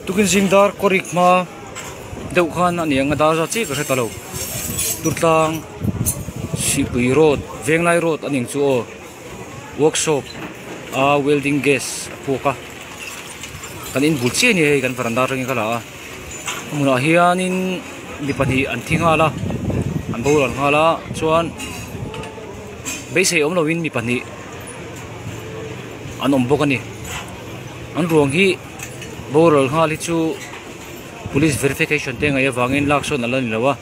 Tukin zing dar kawrik hma deuh khan a ni ang a dar zat chiah ka hre ta lo turtlang Hripui road venglai road a ning chu aw workshop a welding gas a phuak a kan in bul chiah a ni hei kan veranda atangin ka la a a hmunah hianin mi pahnih an thi nghal a an boruak an nghal a chuan beisei awm lo in mi pahnih-- an awm bawk a ni an ruang hi boral nghal hi chu police verification te ngaih avangin lak sawn a la ni lo a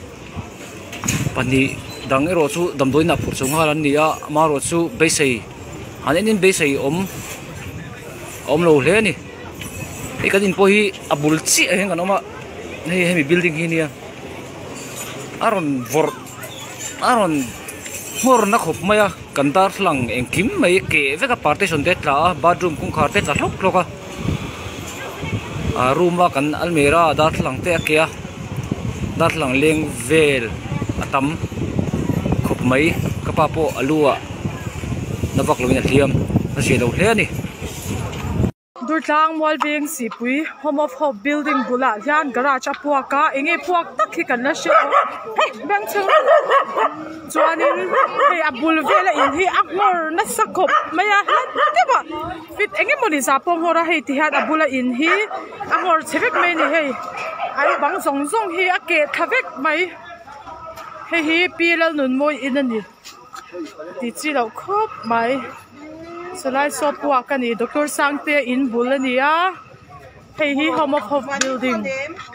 pahnih dang erawh chu damdawiinah phur chho nghal an ni a ama erawh chu beisei han en in beisei a awm a awm lo hle a ni hei kan in pawh hi a bul chiah ah hian kan awm a hei hemi building hi nia a rawn vawrh-- a rawn hmawrna khawp mai a kan darthlalang engkim mai ke vek a partition te tla a bathroom kawngkhar te tla hlawk hlawk a ah room a kan almera ah darthlalang te a ke a darthlalang leng vel a tam khawp mai ka pa pawh a lu ah na vak lo in a hliam a hriat loh hle a ni. Durtlang Mualveng Sihpui Home of Hope Building bulah hian garage a puak a, eng nge puak tak hi kan la hre a hei bank chhung chuanin hei a bul vela in hi a nghawr nasa khawp mai a hlat deuh a fit eng nge mawni zah pawh a nghawr a hei tihian a bula in hi a nghawr che vek mai a ni hei an bang zawng zawng hi a keh tha vek mai hei hi P Lalnunmawi in a ni. ti chi loh khawp mai Salai Sawp pawh ah ka ni Doctor Sangtea in bul a ni a hei hi Home of Hope building --